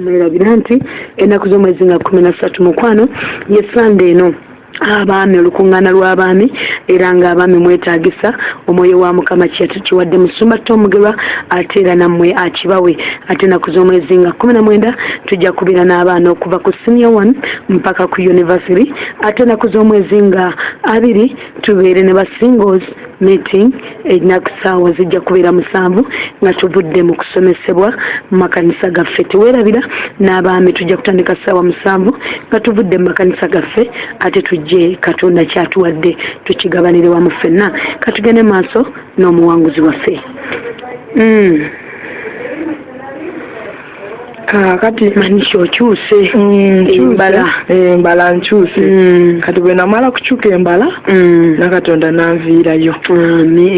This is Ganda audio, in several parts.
mwerabira nti ennaku z'omwezi nga kumi na ssatu mukwano ye sande eno abaami olukuŋŋaana lw'abaami era ng'abaami mwetaagisa omwoyo wa mukama kiwadde musumba tomugerwa ate era nammwe akibawe ate ennaku z'omwezi nga kumi na mwenda tujja kubeera n'abaana okuva ku siniya one mpaka ku univasity ate ennaku z'omwezi nga abiri tubeere ne basingles Meeting erina ku ssaawa zijja kubeera musanvu nga tuvudde mu kusomesebwa mu makanisa gaffe. Teweerabira n'abaami tujja kutandika ssaawa musanvu nga tuvudde mu makanisa gaffe ate tujje Katonda kyatuwadde tukigabanire wamu ffenna. Katugende maaso n'omuwanguzi waffe. Mm. Ah, kati manisha okyuse mm, embala embala eh, nkyuse mm. kati bwe namala kukyuka embala mm. nakatonda nanviirayo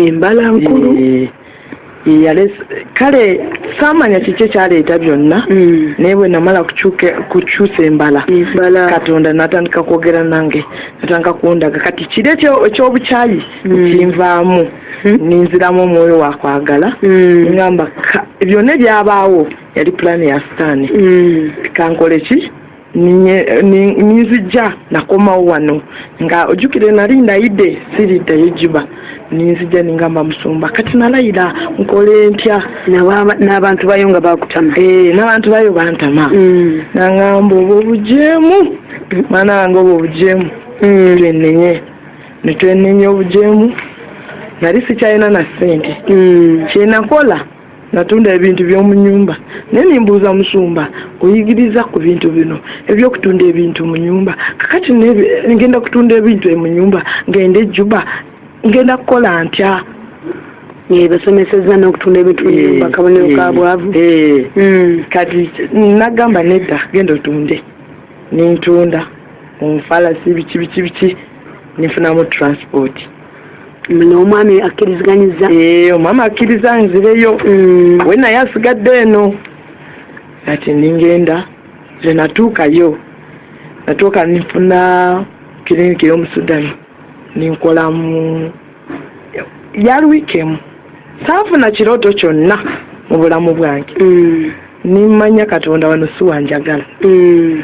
embala nkulu eh, eh, kale samanya kiki ekyaleeta byonna naye bwe namala kukyusa embala katonda natandika kwogera nange natandika kundaga kati kiri ekyobukyayi kinvaamu ninziramu omwoyo wakwagala mm. ngamba byonna ebyabaawo yali pulaani ya sitaani mm. kankole ki ninzijja nakomawo wano nga ojjukire nali ndayidde siriddayo juba ninzijja ningamba musumba kati nalayira nkole ntya n'abantu bayo nga bakutama eh, n'abantu bayo bantama mm. nangamba obwo obujeemu mwana wange obwo obujeemu twenenye ne twenenya obujeemu nali sikyalina na ssente hmm. kyenakola natunda ebintu by'omu nyumba naye nimbuuza musumba oyigiriza ku bintu bino ebyokutunda ebintu mu nyumba kakati ngenda kutunda ebintu mu nyumba ngende juba ngenda kukola ntya basomeseza nokutunda ebintu munyumba eh, kabonero ka eh, bwavu eh. hmm. kati nagamba nedda genda otunde nentunda omufalasi biki biki biki nefunamu transport omwami akkiriziganyizza eh, omwami akkiriza nzireyo mm. we naye asigadde eno kati ningenda zenatuukayo natuuka nifuna kiriniki yomusudani ninkola mu yali wiiki emu saafuna kirooto kyonna mu bulamu bwange mm. nimmanya katonda wano si wanjagala mm.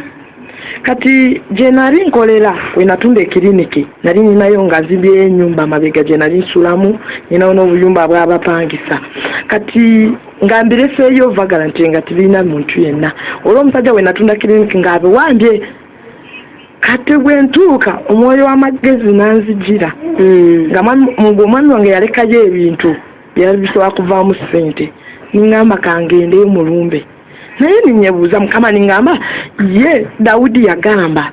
kati gye nali nkolera we natunda ekiriniki nali ninayo nga zibye enyumba amabega gye nali nsulamu ninawo n'obuyumba bw'abapangisa kati nga mbireseeyo vagala nti nga tibirina muntu yenna olw'omusajja we natunda kiriniki ng'abiwambye kati bwe ntuuka omwoyo w'amagezi n'anzijira hmm. nga omwami wange yalekayo ebintu byali bisobola kuvaamu ssente ningamba kangendeyo mu lumbe naye ninyebuuza mukama ningamba ye dawudi yagamba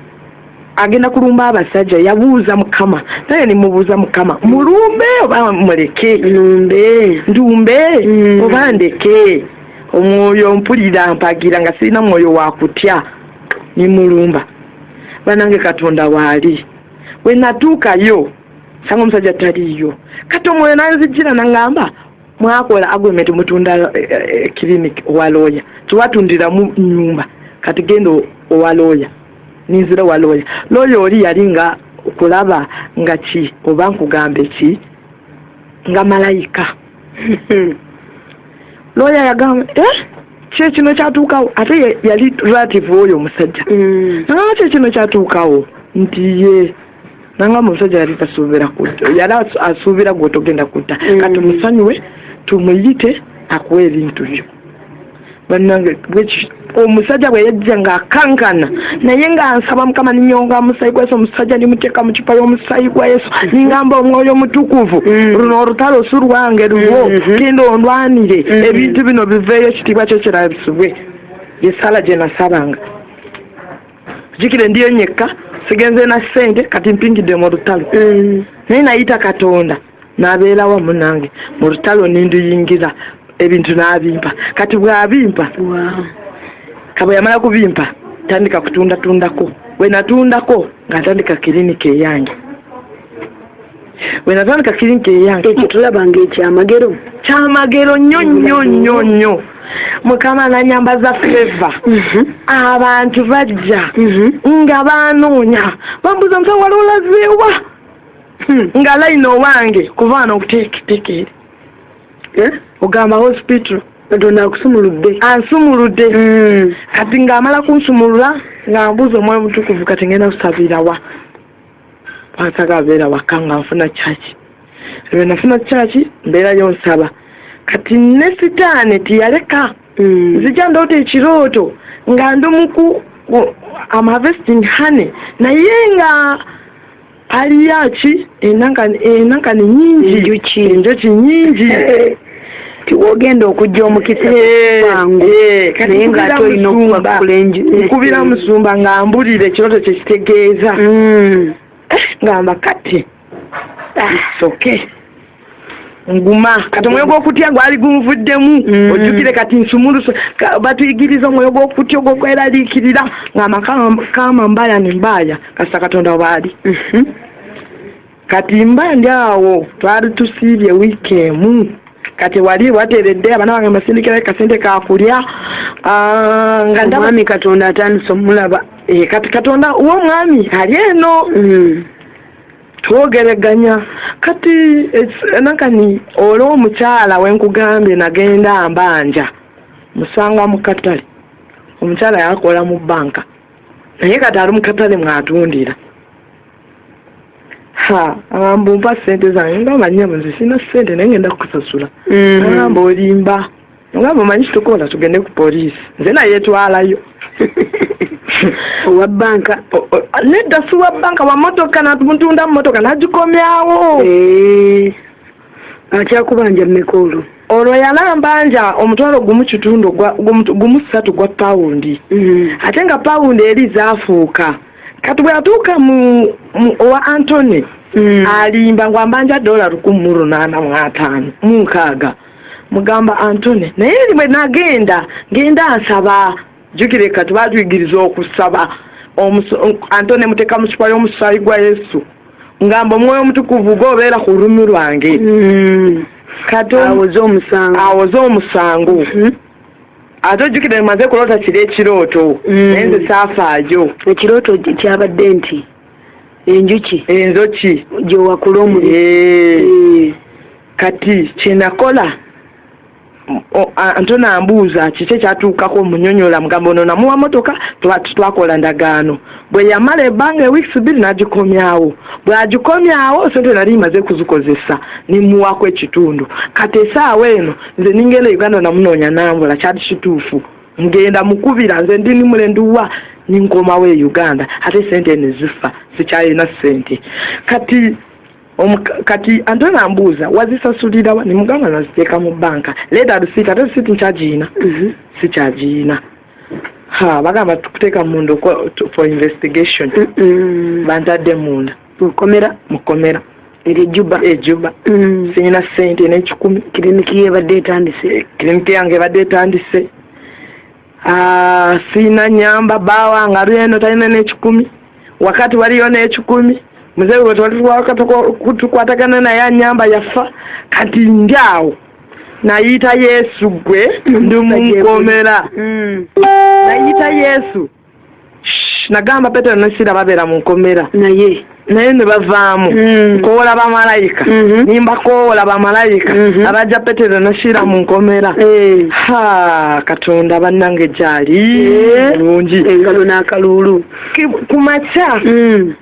agenda kulumba abasajja yabuuza mukama naye nimubuuza mukama mulumbe oba muleke lumbe ndumbe hmm. oba ndeke omwoyo mpulira mpagira nga sirina mwoyo wakutya nimulumba banange katonda waali wenatuukayo sanga omusajja taliyo kati omwoyo nanzijira nangamba mwakola agreement mutunda eh, eh, eh, clinic owa looya tiwatundiramu nyumba kati genda owa looya ninzira owa looya looya oli yali nga okulaba nga ki oba nkugambe ki nga malayika looya yagamba eh? kyekino kyatuukawo ate yali relative oyo omusajja mm. nagamba kyekino kyatuukawo nti ye nangamba omusajja yali tasuubira kutta yali asuubira gwe otogenda kutta mm. kati musanyuwe tumuyite akuwa ebintu byo bannange omusajja bwe yajja ng'akankana naye nga nsaba mukama ninyonga omusayi gwa yesu omusajja nimuteeka mu kipa y'omusayi gwa yesu mm-hmm. ningamba omwoyo omutukuvu mm-hmm. luno olutalo si lwange lulwo mm-hmm. kenda ondwanire ebintu bino biveeyo ekitiibwa kyo kirabisibwe yesala gye nasabanga jikire ndiyo nyekka sigenze na ssente kati mpingidde mu lutalo naye nayita katonda nabeera wamu nange mu lutalo ninduyingira ebintu nabimpa kati bwabimpa kaba yamala kubimpa tandika kutundatundako wenatundako nga ntandika kiriniki eyange wenatandika kiriniki eyange ekyo tulaba nga ekyamagero kyamagero nnyo nnyo nnyo nnyo mukama nanyambaza feva mhm. abantu bajja mhm. nga banoonya bambuza nti waliwo lazeewa hmm, nga line owange kuba wano okuteeketekeere eh? ogamba hospital katonda akusumuludde ansumuludde hmm. kati ng'amala kunsumulula nga mbuuza omwoyo mutukuvu kati ngenda kusabira wa wansaga abeera waka nga nfuna kyaki ebyo nafuna kyaki mbeerayo nsaba kati ne sitaani tiyaleka hmm. nzija ndoota ekirooto nga ndi muku am harvesting honey naye nga aliyaki enankani nyingi enjoki nyingi tiwogenda okujja omukisa kwangu eh, eh, naye nga ate olina okubakula nkubira musumba nga mbulira ekiroto kyekitegeeza hmm. eh, ngamba kati ah. soke nguma kati omwoyo gw'okutya gwali gunvuddemu mm. ojjukire kati nsumulusa batuyigiriza omwoyo gw'okutya ogwokweraliikirira ng'amakama mbaaya ne mbaaya kasita katonda waali mhm. kati mba ndi awo twali tusiibye wiiki emu kati wali wateredde abana bange masindikira kasente kakulya ah, nga ndamwami katonda atandise omulaba eh, kati katonda womwami ali eno mm. twogereganya kati nakani olwo omukyala wenkugambye nagenda mbanja musanga mukatale omukyala yakola mu banka naye kati ali mukatale mwatundira ha agamba ompa sente zange ngamba nyabuzi sina sente naye ngenda kukusasula mm-hmm. agamba olimba nga mumanyi kitukola tugende ku poliisi nze nayetwalayo owa banka nedda si wa banka wa motoka natumutundamu motoka nagikomyawo eh, akyakubanja mmeka olwo olwo yalambanja omutwalo gumu kitundu gumu ssatu gwa pawundi mm-hmm. ate nga pawundi eri zafuuka kati bwe yatuuka mu owa antony mm. alimba ngwambanja dola lukumi mu lunaana mu ataano mu nkaaga mugamba antune naye erimwe nagenda ngenda nsaba jukire kati batuyigiriza okusaba antone muteka mukipa y'omusaayi gwa yesu ngamba omwoyo omutukuvu gobeera ku lulimi lwange mm. kati awoze omusango awoze omusango mm-hmm. ate ojjukire maze kuloota kiri ekirooto mm. naye nze saafaajo ekirooto kyabadde nti enjuki enjoki gyewakula omuli eh. eh. kati kyenakola ante nambuuza kiki ekyatuukako munyonyola mugamba ono namuwa motoka twakola ndagaano bwe yamala ebbanga eweeks bbiri nagikomyawo bwagikomyawo sente nali maze kuzikozesa nimuwako ekitundu kati esaawa eno nze ningenda uganda namunoonya nambula kyali kituufu ngenda mukubira nze ndi nimulenduwa ninkomawo e uganda ate sente nezifa sikyalina sente kati kati ante nambuuza wazisasulirawa nemugamba naziteeka mu banka leta risiiti ate risiiti nkyagiyina mhm. sikyagiyina ha bagamba tukuteeka munda for investigation bantadde munda mukomera mukomera erejuba ejuba mm. sirina sente nekikumi kiriniki yebadde etandise kiriniki yange ebadde etandise Ah, sina nyamba bawa nga lweno talina n'ekikumi wakati waliyo n'ekikumi muzeeyi we twalitukwatagana naye anyamba yafa kati njaawo nayita yesu gwe ndi munkomera mm. nayita yesu nagamba petero ne sira babeera mu nkomera naye naye ne bavaamu mm. nkoola bamalayika mm-hmm. nimba koola bamalayika mm-hmm. abajja petero ne sira mu nkomera eh. ha katonda bannange gyali eh. bulungi engalo n'akaluulu ku makya mm.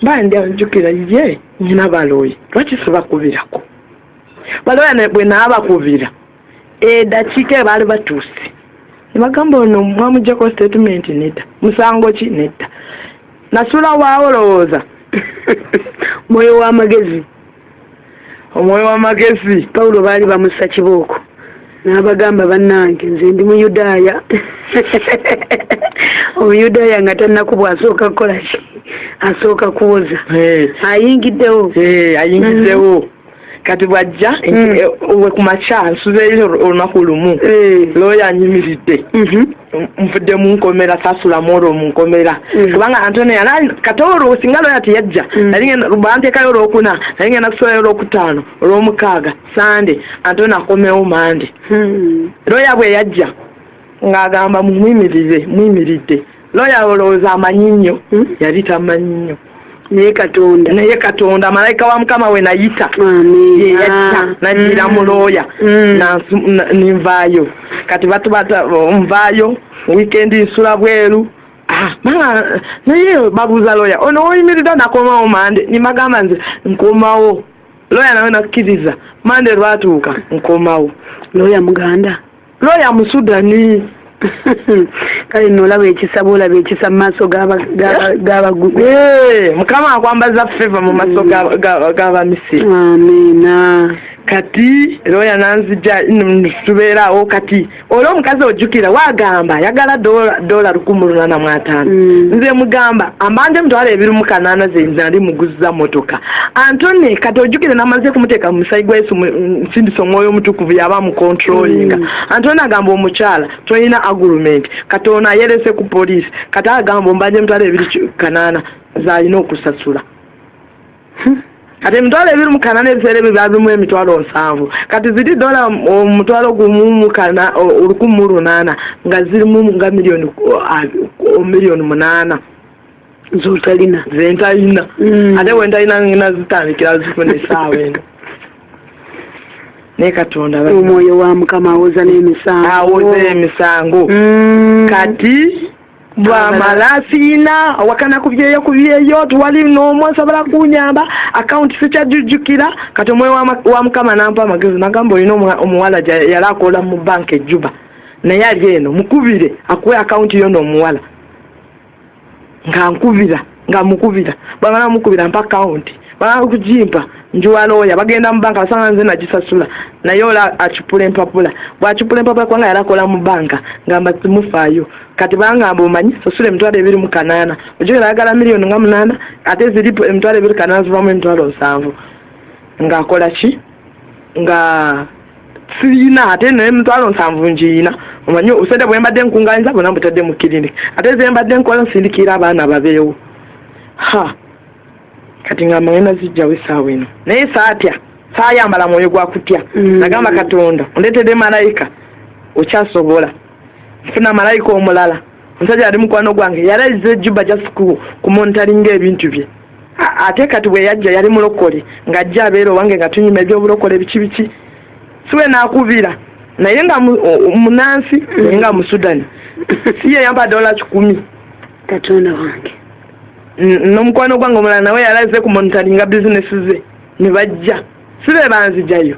mba ndi anjukira ye nyina balooyi lwaki sibakubirako balooya bwe naabakubira edakiika eh, ebaali batuuse nebagamba ono mwamujjako statement nedda musango ki nedda nasula waolowooza mwoyo wamagezi omwoyo wamagezi pawulo baali bamusa kibooko n'abagamba bannange nze ndi muyudaaya omuyudaaya nga tannakubwa asooka kukolaki asooka kuwoza ayingiddewo ayingiddewo kati bwajja hmm. eh, we ku makya nsuzeeyo olunaku lumu hmm. looya anyimiridde mhm. nvudde mu nkomera sasulamu olwo mu nkomera hmm. kubanga antone yali kati olwo singa looya teyajja banteekayo olwokuna naye ngenda kusulayo olwokutaano olwomukaaga sande antone akomewo mande looya bwe yajja ng'agamba mumuyimirize muyimiridde looya olowooza amanyi nnyo hmm? yali tamanyi nnyo naye katonda naye katonda malayika wa mukama we nayita yeyakita nagira mm. mulooya mm. ninvaayo kati batubata oh, nvaayo wikendi nsula bweru ah, naye babuuza looya ono oyimiridde nakomawo mande nimagamba nze nkomawo looya nawe nakkiriza mande lwatuuka nkomawo looya muganda looya musudani kale no olaba ekisa bwolaba ekisa mu maaso gabagugu eh, mukama akwambaza feva mu maaso mm. gabamisiri amina kati looya nanzija tubeeraawo kati oli omukazi ojjukira wagamba yagala dola lukumu lunana mu ataano mm. nze mugamba ambanja emitwalo ebiri mu kanaana zenze ali muguza motoka antone kati ojjukire namaze kumuteeka mu musayi gwa yesu sindisa omwoyo omutukuvu yaba mukontrolinga mm. anti ona agamba omukyala tolina agurumenti kati ono ayerese ku polisi kati agamba ombanja emitwalo ebiri kanaana zalina okusasula hmm. kati emitwalo ebiri mukanaana ebiseera ebyo byabimu emitwalo nsanvu kati ziri dola omutwalo gumu mukana olukumu lunaana nga zirimu nga miliyoni uh, uh, miliyoni munaana zotalina zentalina mm. ate wentalina ngina zitandikira zifuna esaawa eno naye katonda omwoyo wa mukama awoza n'emisango awoza emisango mm. kati bwamala siina awakana ku byeyo ku byeyo tiwali n'omu asobola kunyamba akawunti sikyajujjukira kati omwoyo wa mukama nampa amagezi nagamba olina omuwala yali akola mu banka ejjuba naye ali eno mukubire akuwe akawunti yo n'omuwala nga nkubira nga mukubira bamala mukubira mpa kawunti bamala kugimpa njiwa looya bagenda mu banka basanga nze nagisasula naye ola acupula empapula bwacupula empapula kubanga yali akola mu banka ngamba simufaayo kati bangamba omanyi sasula emitwalo ebiri mu kanaana ojogera ayagala miliyoni nga munaana ate ziri emitwalo ebiri kanaana zivamu emitwalo nsanvu ng'akola ki nga siyina ate naye mitwalo nsanvu ngiyina omanyi obusente bwe mbadde nkunganyiza bona mbutadde mu kiriniki ate ze mbadde nkola nsindikira abaana babeewo ha kati nga mwena zijjawo esaawa eno naye saatya saayambala mwoyo gwa kutya mm. nagamba katonda ondeetedde malayika okyasobola nfuna malayika omulala omusajja ali mukwano gwange yalayiza ejuba just kumontalinga ebintu bye ate kati bwe yajja yali mulokole ng'ajja abeera owange nga tunyuma ebyobulokole biki biki siwe naakubira naye nga munansi naye nga musudani si ye yampa dola kikumi katonda wange n'omukwano gwange omulala nawe yalaze kumonitalinga bizinesi ze ne bajja si be banzijayo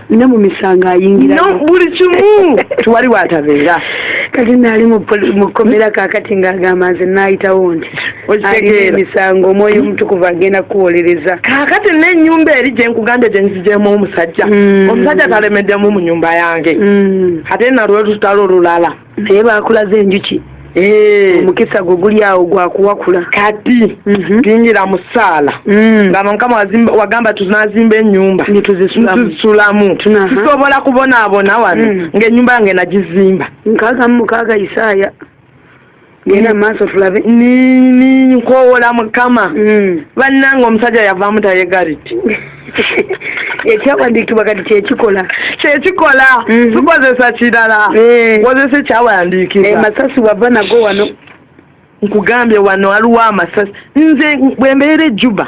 ne mu misango ayingirayo no buli kimu tewali watabeera kati naali mu kkomera kakati ng'agamba nze naayitawo nti alina emisango omwoyo omutukuvu agenda kukuwolereza kakati n'ennyumba eri gye nkugambye gye nzigyemu omusajja mm. omusajja talemeddemu mu nyumba yange mm. ate nalwo lutalo olulala naye bakulaze enjuki eh. omukisa gwe guli awo gwakuwakula kati mhm. tuyingira mu ssaala mm. nga mukama wagamba tunazimba enyumba netuzisulamu tusobola kubonaabona wano mm. ngaenyumba yange nagizimba nkaaga mu mukaaga isaaya nina maaso fulabe ninkowola mukama mm. bannanga omusajja yavaamu tayegaliti ekyawandiikibwa kati kyekikola kyekikola mm-hmm. tukozesa kirala eh. kozesa ekyawandiikibwa eh, masasi wava nago wano nkugambye wano aliwo amasasi nze bwembeera ejjuba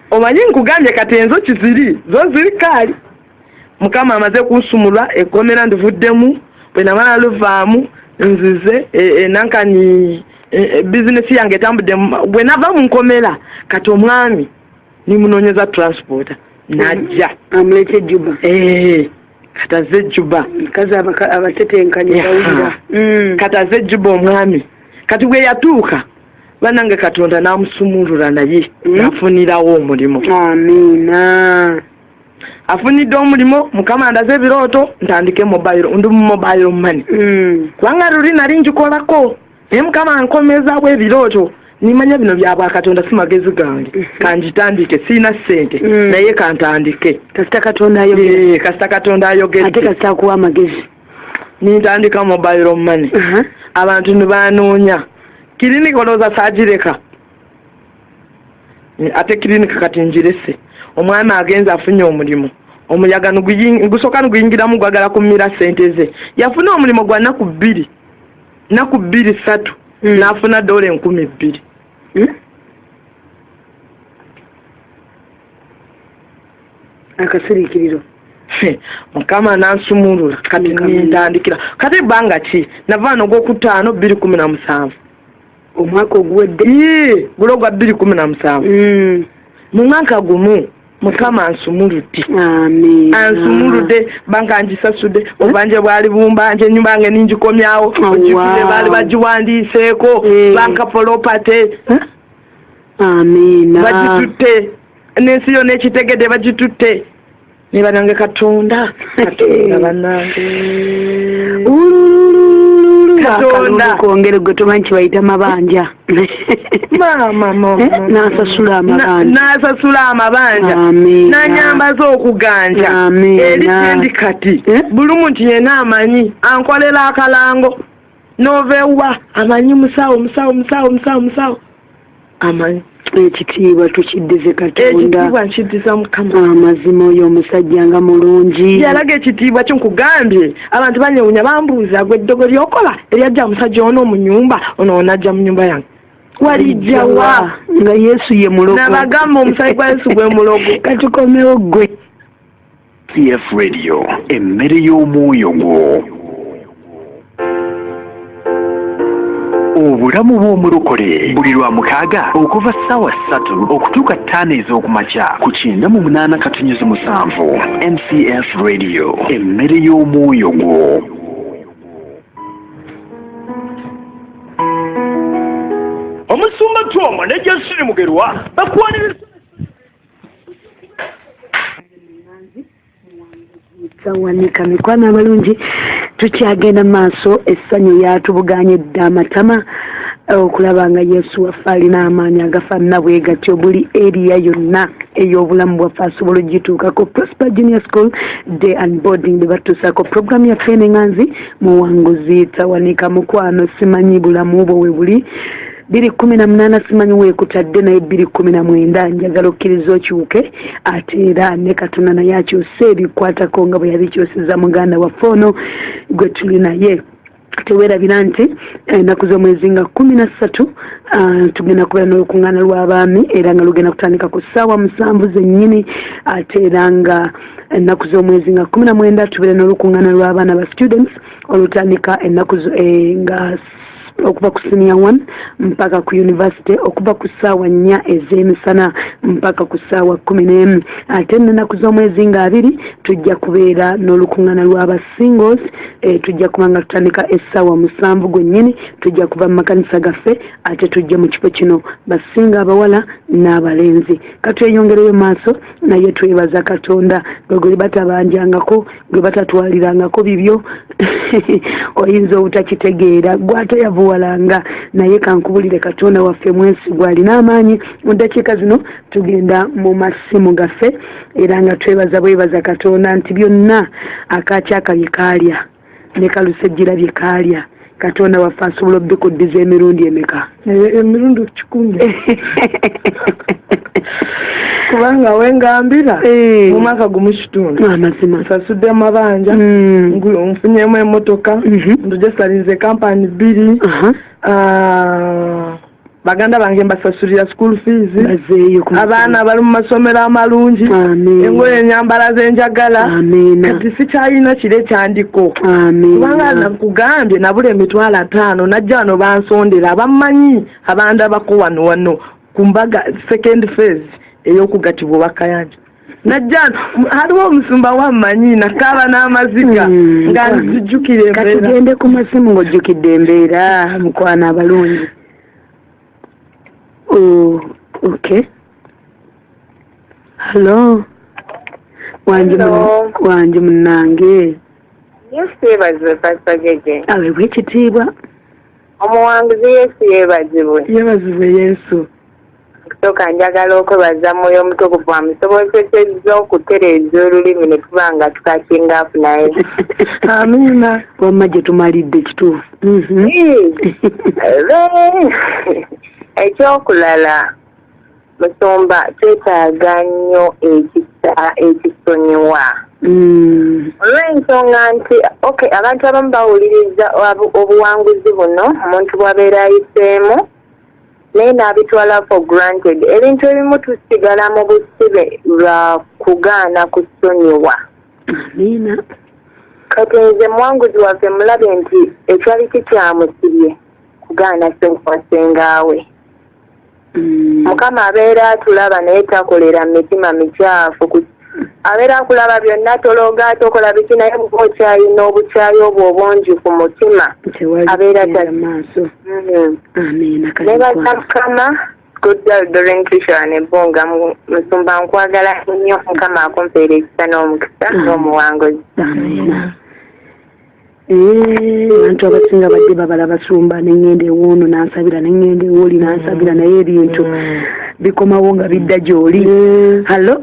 Omanyi nkugambye kati enzoki ziri zo ziri kaali mukama amaze kunsumulwa ekkomera ndivuddemu bwe namala luvaamu nzize e, e, nankani e, bizinesi yange etambudde bwe nava mu nkomera kati omwami nimunoonyeza transporta najja amulete juba kati azze juba kazi abatetenkanya mm. kati azze juba omwami kati bwe yatuuka banange katonda namusumulula naye hmm? afunirawo omulimu amiina afunidde omulimu mukama ndaze ebirooto ntandike mobile ndi mu mobile money hmm. kubanga luli nali njikolako naye mukama nkomezawo ebirooto nimanya bino byabwakatonda si magezi gange hmm. kanjitandike siina sente naye kantandike kasita katonda ayogere kasita katonda ayogere ate kasita akuwa amagezi nintandika mobile money uh-huh. abantu nibanoonya kiriniki olowooza saagireka ate kiriniki kati njirese omwami agenza afunye omulimu omuyaga gusooka niguyingiramu gwagala kumira sente ze yafuna omulimu gwa naku bbiri naku bbiri satu hmm. n'afuna doola enkumi bbiri hmm? akasirikiriro mukama nansumulula kati kantandikira kati ebbanga ki nava noga okutaano bbiri kumi na musanvu omwaka oguwedde gulo gwa bbiri kumi na musanvu hmm. mu mwaka gumu mukama ansumuludde ansumuludde banga ngisasudde obanje bwali bumbanje enyumba nge ningikomyawo ogikule baali bagiwandiiseeko eh. banka polopate bagitutte n'ensi yona ekitegede bagitutte nebanange katonda katonda banange katonda kongere gwe tomanyi kibayita mabanja n'asasula amabanja n'anyambaza okuganja eri sendi kati eh? buli muntu yena amanyi ankolera akalango novewa amanyi musawo musawo musawo musawo musawo amanyi ekitiibwa tukiddize katondaekitiibwa nkiddiza mukama amazima oyo omusajja nga mulungi yalaga ekitiibwa kyo nkugambye abantu banyewunya bambuuza gwe eddogo lyokola eryajja musajja ono mu nyumba ono onajja mu nyumba yange walijjawa nga yesu ye mulogo nabagamba omusali gwa yesu gwe mulogo katikomewo gwe cf radio emmere y'omwoyo gwo obulamu bw'omulokole buli lwa mukaaga okuva ssaawa ssatu okutuuka ttaano ez'okumakya ku kyenda mu munaana katunyuzi musanvu mcf radio emmere y'omwoyo gwo omusumba twomo ne jasiri mugerwa bakwaniriza Sawanika mikwano abalungi tukyagenda maaso essanyu lyatubuganye dda amatama eh, okulaba nga yesu waffe alina amaanyi agafaanana bwe gatyo buli eriya yonna ey'obulamu bwaffe asobola okugituukako prosper junior school day and boarding bwe batuusaako programu yaffe enenganzi muwanguzi tawanika mukwano simanyi bulamu bwo we buli bbiri kkumi na munaana simanyi weekutadde naye bbiri kkumi na mwenda njagala okkiriza okyuke ate era ne katonda naye akyuse ebikwatako nga bwe yabikyusizza muganda waffe ono gwe tuli naye tewerabira nti eh, ennaku z'omwezi nga kumi na ssatu ah, tugenda kubeera n'olukuŋŋaana lw'abaami era nga lugenda kutandika ku ssaawa musanvu zennyini ate era nga ennaku z'omwezi nga kumi na mwenda tubeere n'olukuŋŋaana lw'abaana ba students olutandika ennaku eh, nga okuva ku senior one mpaka ku university okuva ku ssaawa nnya ez'emisana mpaka ku ssaawa kumi n'emu ate nenaku z'omwezi nga abiri tujja kubeera n'olukuŋŋana lw'aba singles e, tujja kuba nga tutandika essaawa musanvu gwennyini tujja kuva mu makanisa gaffe ate tujja mu kifo kino basinga abawala n'abalenzi katweyongereyo maaso naye twebaza katonda gweguli batabanjangako gwe batatwalirangako bibyo oyinza obutakitegeera gwate yavuwalanga naye kankubulire katonda waffe mwesigwa alina amaanyi mu ddakiika zino tugenda mu masimu gaffe era nga twebaza bwebaza katonda nti byonna akaakyakabye kaalya ne kalusejjira bye kaalya katonda waffe asobola obikuddiza emirundi emeka emirundi kikumi kubanga wengambira eh. mumwaka gumu kitundu amazima ah, nsasudde amabanja hmm. nfunyemu emotoka mhm. ndujasalinze kampani bbiri ah, baganda bange mbasasulira school fees abaana bali mu masomero amalungi engoyo enyambala zenjagala kati sikyalina kiro ekyandiko kubanga nakugambye nabula emitwalo ataano najja wano bansondera abamanyi abandabako wano wano ku mbaga second phase eyokugatibwa obakayanja najjana hariho omusumba wammanyi nakaaba n'amaziga hmm. nga nzijjukira embeera katugende ku masimu ng'ojjukidde embeera mukwana abalungi oh, ok hallo wangi munnange yesu yebazibwe pasita jeje awebwa ekitiibwa omuwanguzi yesu yebazibwe yebazibwe yesu Kusooka njagala okwebaza mwoyo omutukuvu amusobozesezza okutereeza olulimi ne tuba nga tukakingaafu naye amiina wamma gye tumalidde kituufu mhm. ekyokulala musumba twetaaga nnyo ekisa ekisonyiwa mm. olw'ensonga nti oky abantu abamu bawuliriza obuwanguzi buno omuntu bwabeera ayiseemu naye n'abitwala for granted ebintu ebimu tusigala mu busibe lwa kugaana kusonyiwa amiina kati nze mwanguzi waffe mulabe nti ekyali kikyamusibye kugaana senkwasengaawe mm. mukama abeera atulaba naye takolera mitima mikyafu ku abeera akulaba byonna tolooga tokola biki naye buba okyayi n'obukyayi obwo obungi ku mutima abeera taaso ne bakamukama goddaldorentishoanebunga musumba nkwagala nnyo mukama akumpeera ekisa n'omukisa n'omuwanguzi abantu abasinga badde babala basumba nengenda ewoono nansabira nengenda ewoli nansabira naye ebintu bikomawo nga bidda gyoli hallo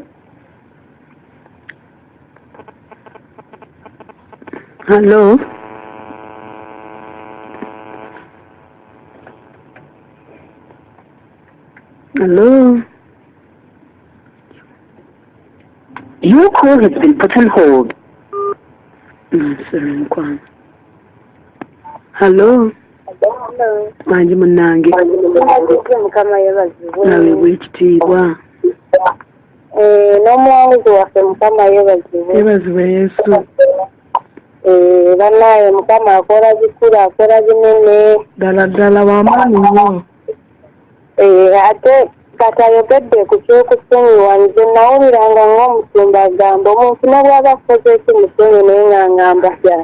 hallo hallo Your call has been put on hold. mukwano hallo mangi munnange nawe bwekitiibwa eh, n'omuwanguzi waffe mukama yebazibwe yebazibwe yesu eh, banaye mukama akola bikulu akola binene ddala ddala wamaanyi nyo eh, ate kati ayogedde ku kyokusonyiwa nze nawuliranga ngaomusumba agamba omuntu nabwaba akoze eki musonyi naye nga ngamba ya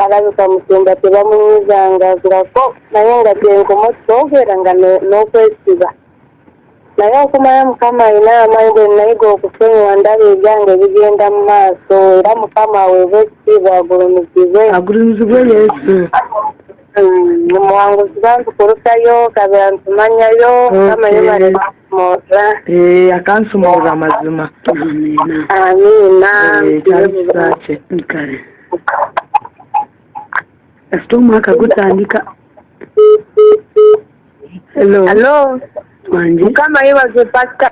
alabika musumba tebamunyizanga ngako naye nga gyenkoma okitwogera nga n'okwesiba naye okumala mukama alina amaanyi bwe nayiga okusonyiwa ndaba ebyange bigenda mu maaso era mukama aweebwa ekitiibwa agulumizibwe agulumizibwe yesu omuwanguzi bantu kulusayo kabera ntumanyayo mukama yebale nakumoza akansumooza amazima amiina kyalisakye kale kasita omwaka gutandika hello hello wange mukama yebaze pasita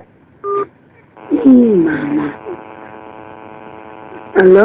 mama hello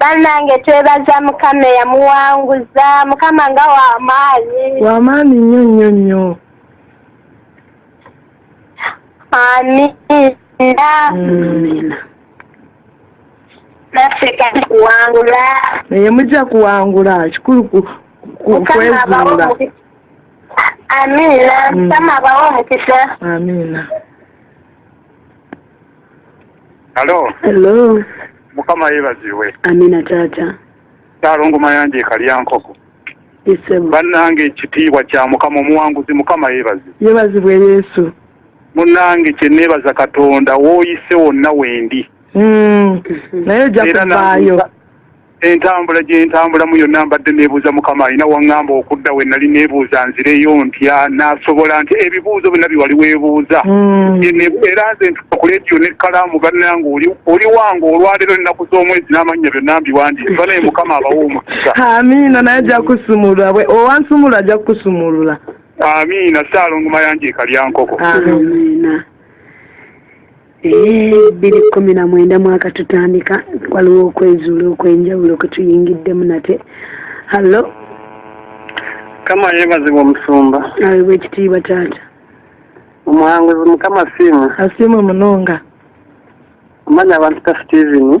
banange twebaza mukama eyamuwanguza mukama nga wamaanyi wamaanyi nnyo nnyo nnyo amiina naffe kati kuwangula naye mujja kuwangula kikulu kwezuula amiina mukama abawo omukisa amiina Hello. Hello. Mukama yebaziwe. Amina tata. Talongo mayanje ekalyankoko. Isebo. Banange ekitiibwa kya Mukama omuwanguzi Mukama yebazi. Yebazibwe Yesu. Munange kye nebaza Katonda woyise wonna wendi. Mm. Naye jakubayo. Entambula gye ntambulamu yonna mbadde neebuuza Mukama alina waŋŋamba okudda we nali neebuuza nzireyo ntya nasobola nti ebibuuzo byonna bye wali weebuuza mm. era nze ntuka ku leediyo n'ekkalaamu bannange oli wange olwaleero ennaku z'omwezi n'amannya byonna mbiwandiise banaye Mukama abawa omukisa amiina naye ajja kusumulula owansumulula ajja kukusumulula amiina saalongo mayanja ekalyankoko amiina bbiri kkumi na mwenda mwaka tutandika waliwo okwezuula okwenjawulo kwe tuyingiddemu nate hallo mukama yebazibwa omusumba awebwa ekitiibwa taata omuhanguzi mukama siima asiima munonga omanya abantu ta steven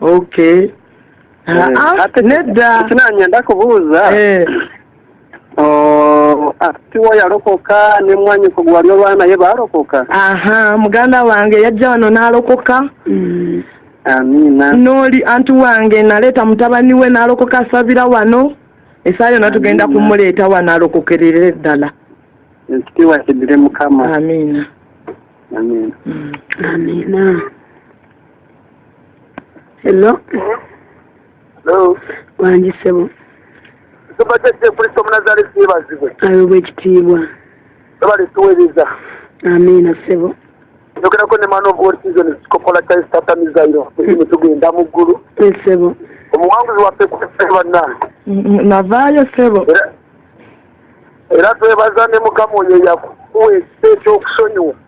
okay nedda kinanya ndakubuuza tiwo yalokoka ne mwanyiko gwali olwa naye baalokoka aha muganda wange yajja wano n'alokoka mm. amiina n'oli anti wange naleeta mutabani we n'alokoka asabira wano esaa yona tugenda kumuleeta wano alokokerere ddala ekitiibwa kidire mukama amiina amiina mm. amiina Hello. Hello. Wangi sebo. Tubadde kye kuli somu nazali sibazibwe. Ayo bwe kitiibwa. Tubali tuweleza. Amina sebo. Ndokera ko ne man of war season kopola chai starter mizairo. Mwe tugenda mu gulu. Eh, sebo. Omuwanguzi wa peku sebo na. Navayo sebo. Era twebaza ne mukamu yeyaku. Uwe sebo kusonyiwa.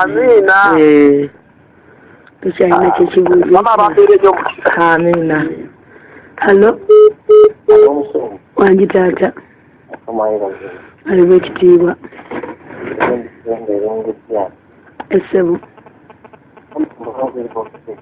amiina eh, tekyalina kyekibuuzo amiina hallo wangi taata aliba ekitiibwa esebo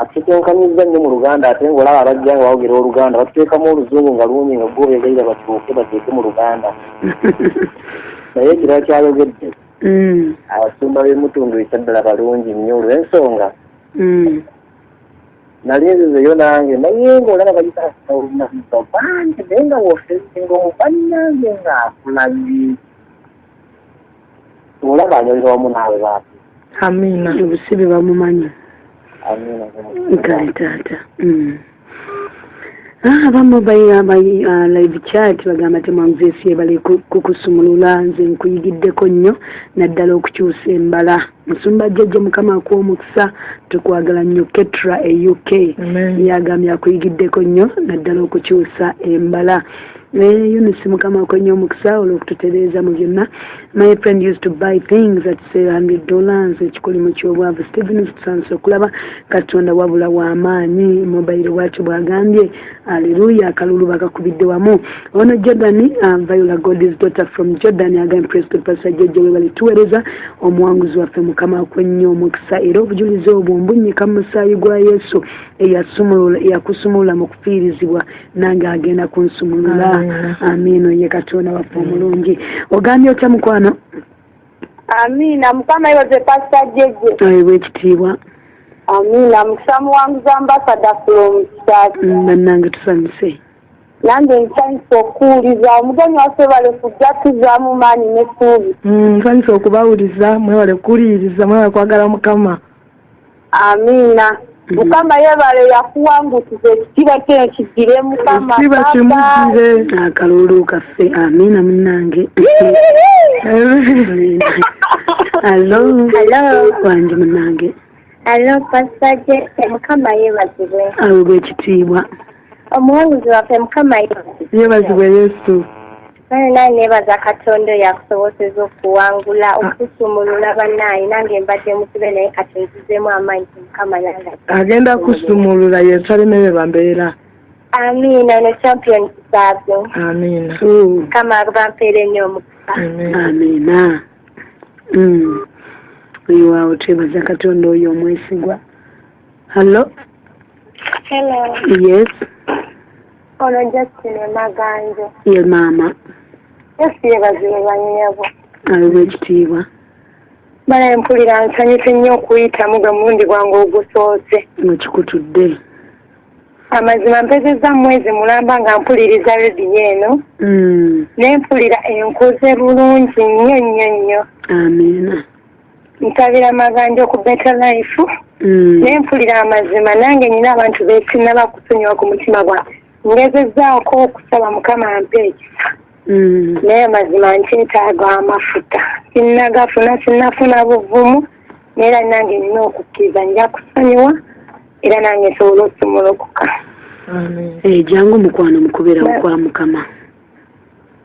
atutetenkanyizza nnyo mu luganda ate ngaolaba abajja nga bawogera oluganda batuteekamu oluzungu nga lungi nga gwobeegaira batuuke bateeke mu luganda naye ekirala kyayogedde mm. abasumba b'emutundu ekyaddala balungi nnyo olw'ensonga mm. nali nzizeyo nange naye ngaolaba bayitaolunaa bangi naye nga wosenga omubanange ng'akulabye olaba anyolera wamu naawe baati amiina obusibe bamumanyi nkale taata mm. ah, abamu ah, live chat bagamba temwanzesiebale kukusumulula nze nkuyigiddeko nnyo naddala okukyusa embala musumba jjajja mukama akuwa omukisa tukwagala nnyo ketra e uk yagambye akuyigiddeko nnyo naddala okukyusa embala naye unisi mukama akonye omukisa olwokututereeza mu byonna my friend used to buy things at sale hundred dollars ekikolimu ky'obwavu stevens tusansa okulaba katonda wabula w'amaanyi mobile bwatyo bwagambye Hallelujah akalulu bakakubidde wamu ono Jordan um, Viola God is daughter from Jordan again praise God pastor Jeje webale tuwereza omuwanguzi waffe mukama akwenye omukisa era obujulizi obwo mbunyika mu musaayi gwa Yesu eyasumulula eyakusumulula mu kufiirizibwa nange agenda kunsumulula amiino ye katonda waffe omulungi ogambye otya mukwano Amina mukama yebaze pastor jeje. Ayi wekitiibwa. Amina mukisa muwanguzi ambassador from Kisasi. Mm, bannange tusanyuse. Nange nsanyuse okuwuliza omugenyi waffe bale kujja tuzaamu maanyi n'essuubi. Mm, nsanyuse okubawuliza mwebale kuwuliriza mwebale kwagala mukama. amiina mm-hmm. mukama yebale yakuwangusiza ekitiba kye kigire mukama ekitiba kimugire akalulu kaffe amiina munange alo wange munange alo pasita jese mukama yebazibwe awebwa ekitiibwa omuwanguzi waffe mukama yebazibwe yesu naye naye nebaza katonda oyo akusoboseza okuwangula ah. okusumulula banaye nange mbadde mukibe naye kati nzizemu amaanyi mukama yange agenda kusumulula yensalemebe bambeera amiina ne champion kisabyo amiina mukama bampeera enyo omukisa amiina mm. oyo waawo twebaza katonda oyo omwesigwa Hello. Hello. Yes. Ono Justine Maganjo. Ye maama. Yesu yebaziwe banyabo. Aliwo ekitiibwa. Bala mpulira nsanyuse nnyo okuyitamu gwe mulundi gwange ogusoose. Nga kikutudde. Amazima mpezezza mwezi mulamba nga mpuliriza rediyo eno. Mm. Ne mpulira enkoze bulungi nnyo nnyo nnyo. Amiina. ntabira maganja ku better life mm. naye mpulira amazima nange nyina abantu besinaba kusonyiwa ku mutima gwa ngezezaako okusaba mukama mpa ekisa mm. naye amazima nkyetaaga amafuta sinnagafuna sinnafuna buvumu naera nange nina okukkiriza nja kusonyiwa era nange nsobola okusumulukuka ejangu eh, mukwano mukubera okwa mukama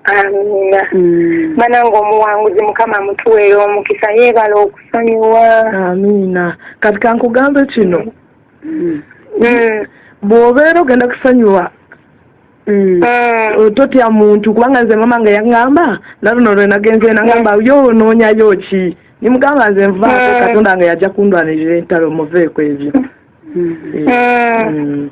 amina mm. banange omuwanguzi mukama mutuweera omukisa yeebala okusonyiwa amina kati kankugambe kino mm. mm. bw'obeera ogenda kusonyiwa Mm. Eh, totya muntu kubanga nze mama nga yaŋŋamba naluno lwe nagenze naŋŋamba yo onoonyayo ki nimugamba nze nvaako mm. katonda nga yajja kundwanirira entalo muveeko ebyo mm. Eh,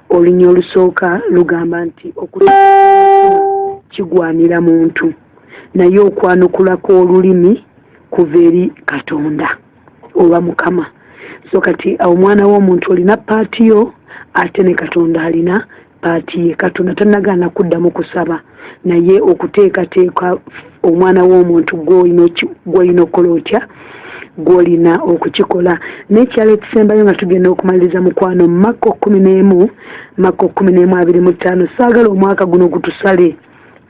Olunya olusooka lugamba nti okuta kigwanira muntu naye okwanukula kw'olulimi kuva eri Katonda oba Mukama. So kati omwana w'omuntu olina paati yo ate ne Katonda alina paati ye. Katonda tannagaana kuddamu kusaba. naye okuteekateeka omwana w'omuntu gwolina okukola otya gwolina okukikola nekyalo ekisembayo nga tugenda okumaliriza mukwano makko kumi n'emu makko kumi n'emu abiri mu ttaano saagala omwaka guno gutusale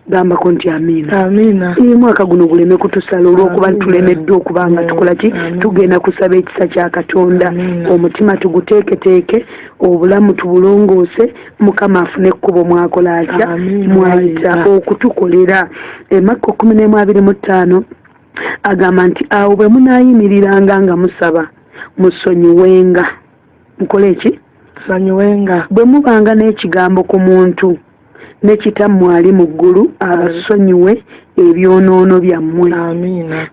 gambako nti amiina amiina ii mwaka guno guleme kutusala olwokuba tulemeddwa okuba nga tukola ki tugenda kusaba ekisa kya katonda omutima tuguteeketeeke obulamu tubulongoose mukama afune ekkubo mwakola atya mwayita okutukolera emakka kumi n'emu abiri mu ttaano agamba nti awo bwe munaayimiriranga nga musaba musonyiwenga mukole eki sonyiwenga bwe mubanga n'ekigambo ku muntu ne kitammwe ali mu ggulu abasonyiwe ebyonoono byammwe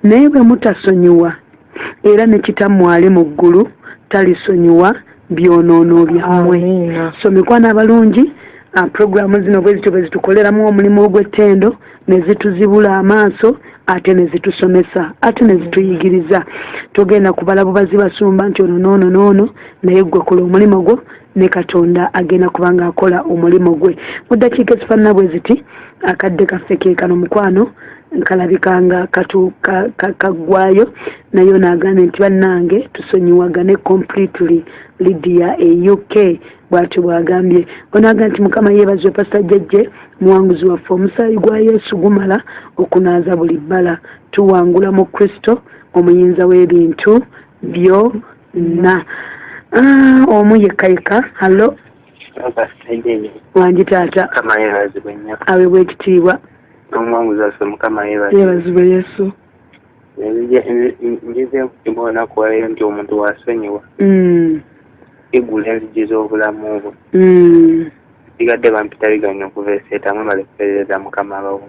naye bwe mutasonyiwa era ne kitammwe ali mu ggulu talisonyiwa byonoono byammwe so mikwana abalungi uh, puroguramu zino bwe zityo bwe zitukoleramu omulimu ogw'ettendo ne zituzibula amaaso ate ne zitusomesa ate ne zituyigiriza togenda kubala bubazi basumba nti ono noono noono naye ggwe kola omulimu gwo ne katonda agenda kubanga akola omulimu gwe mu ddakiika ezifaanana bwe ziti akadde kaffe ke kano mukwano kalabika nga kaggwayo naye ono agambye nti bannange tusonyiwagane completely lidia e uk bwatyo bwagambye onaga nti mukama yeebazwe pasita jjajje muwanguzi waffe omusaayi gwa yesu gumala okunaaza buli bbala tuwangula mu kristo omuyinza w'ebintu byo na ah, omu yekka yekka hallo wangi taata awebwa ekitiibwa yebazibwe yesu njize nkutima olunaku waleero nti omuntu wasonyiwa mm. igula enzigi z'obulamu bwe mm. sigadde bampitaliganya okuva eseeta mwebale kuperereza mukama abawo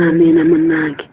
amiina munange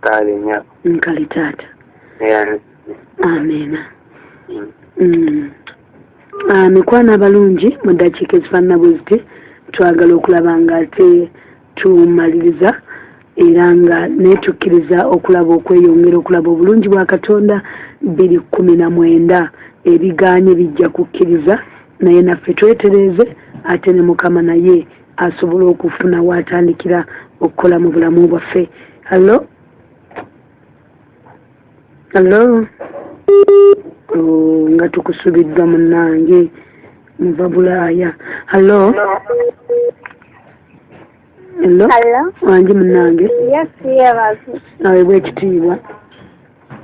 kale nyabo nkali taata amena mm. mm. ah, mikwano abalungi mu ddakiika ezifaanana bwe ziti twagala okulaba nga ate tumaliriza era nga netukkiriza okulaba okweyongera okulaba obulungi bwa katonda biri kumi na mwenda ebiganye bijja kukkiriza naye naffe twetereeze ate ne mukama naye asobola okufuna waatandikira okukola mu bulamu bwaffe hallo hallo oh, nga tukusubiddwa munange muva bulaaya hallo hallo wangi munange awebwa ekitiibwa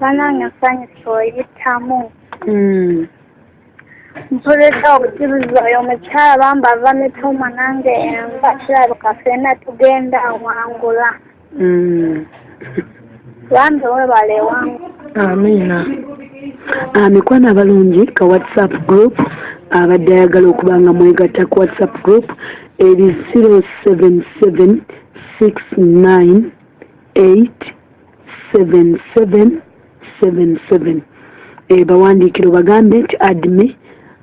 banange nsanyusa oyitamu hmm. mpulidde okukibuza oyo omukyala bamba ava mituma nange enva kirabika fena tugenda awangula mm. bambi webale wangu amiina ah, mikwano abalungi ka whatsapp group abadde ayagala okuba nga mwegatta ku whatsapp group eri 077 69 8 7777 eh, bawandiikire obagambe nti admi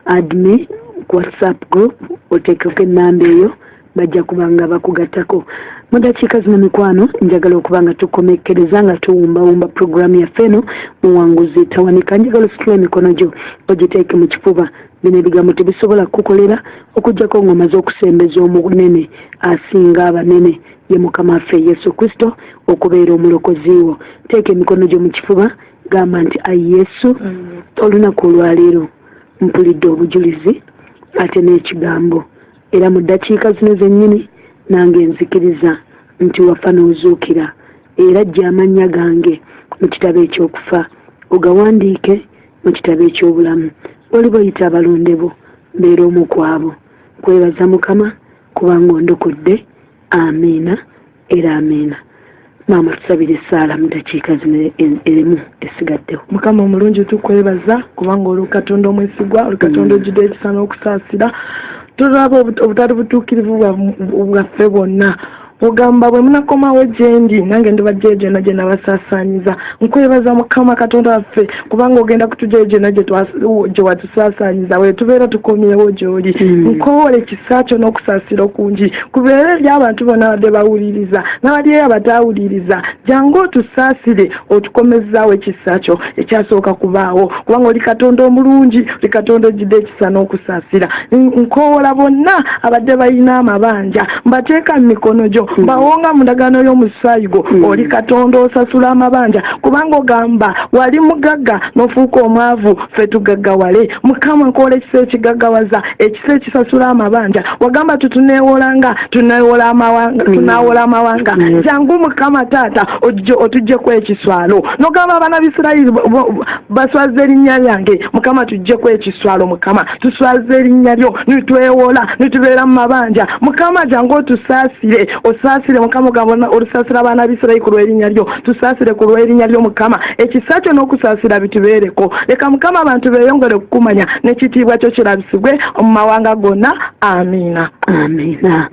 admi ku whatsapp group oteekeko ennamba eyo bajja kuba nga bakugattako mu dakiika zino mikwano njagala okuba nga tukomekkereza nga tuwumbawumba puroguraamu yaffe eno muwanguzi tawanika njagala ositula emikono gyo ogiteeke mu kifuba bino ebigambo tebisobola kukukolera okujjako ng'omaze okusembeza omunene asinga abanene ye mukama waffe yesu kristo okubeera omulokozi wo teeka emikono gyo mu kifuba gamba nti ayi yesu olunaku olwaleero mpulidde obujulizi ate n'ekigambo era mu ddakiika zino zennyini nange nzikiriza nti wafa n'ozuukira era jja amannya gange mu kitabo eky'okufa ogawandiike mu kitabo eky'obulamu oli boyita abalonde bo mbeera omu kwabo kwebaza mukama kubanga ondokodde amiina era amiina maama tusabire esaala mu dakiika zino erimu esigaddewo mukama omulungi tukwebaza kubanga oli katonda omwesigwa oli katonda mm. ojjudde ekisa n'okusaasira tulaba obutali butuukirivu bwaffe bwonna ogamba bwe munakomawo gyendi nange ndibajjeyo gyonna gye nabasasanyiza nkwebaza mukama katonda waffe kubanga ogenda kutujayo gyona gyewatusaasanyiza wetubeera tukomyewo gyoli hmm. nkowola ekisa kyo n'okusaasira okungi kubeera eri abantu bona badde bawuliriza nabaliyo abatawuliriza jangu otusaasire otukomezaawo ekisa kyo ekyasooka kubaawo kubanga oli katonda omulungi oli katonda ojjidde okussa n'okusaasira nkoowola bonna abadde balina amabanja mbateeka mu mikono gyo hmm. bawonga mu ndagaano y'omusaayi gwo hmm. oli katonda osasula amabanja kubanga ogamba wali mugagga n'ofuuka omwavu ffe tugaggawale mukama nkoola ekisa ekigaggawaza ekisa ekisasula amabanja wagamba tutuneewolanga tuneewola amawanga hmm. tunaawola amawanga jangu mukama taata otujjeku ekiswalo nogamba abaana bisirayiri baswaza erinnya lyange mukama tujjeku ekiswalo mukama tuswaza erinnya lyo nitwewola nitubeera mu mabanja mukama jangu otusaasire osaasire mukama ogamba olusaasira abaana bisirayi ku lwerinnya lyo tusaasire ku lwerinnya lyo mukama ekisa kyo n'okusaasira bitubeereko leka mukama abantu beeyongere okukumanya n'ekitiibwa kyo kirabisibwe mu mawanga gonna amiina amiina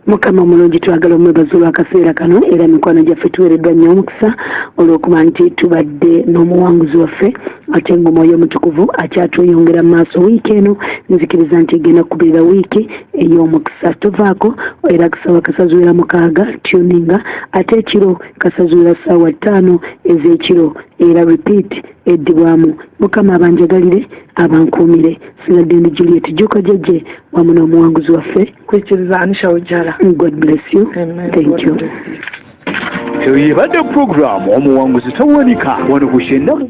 mukama omulungi twagala omwebaza olwakaseera kano era mikwano gyaffe tuweereddwa nnyo omukisa olw'okuba nti tubadde n'omuwanguzi waffe ate ngaomwoyo omutukuvu akyatweyongera mu maaso wiiki eno nzikiriza nti egenda kubeera wiiki ey'omukisa tovaako era kusaba kasazuwera mukaaga tuninga ate ekiro kasazuwera ssaawa ttaano ez'ekiro era repeat eddibwamu mukama abanjagalire abankuumire sigadde ndi juliet juko jeje wamu n'omuwanguzi waffe kwikiriza anisha ujara god bless you Amen. thank you eyo yebadde puroguramu omuwanguzi tawanika wano ku shennamu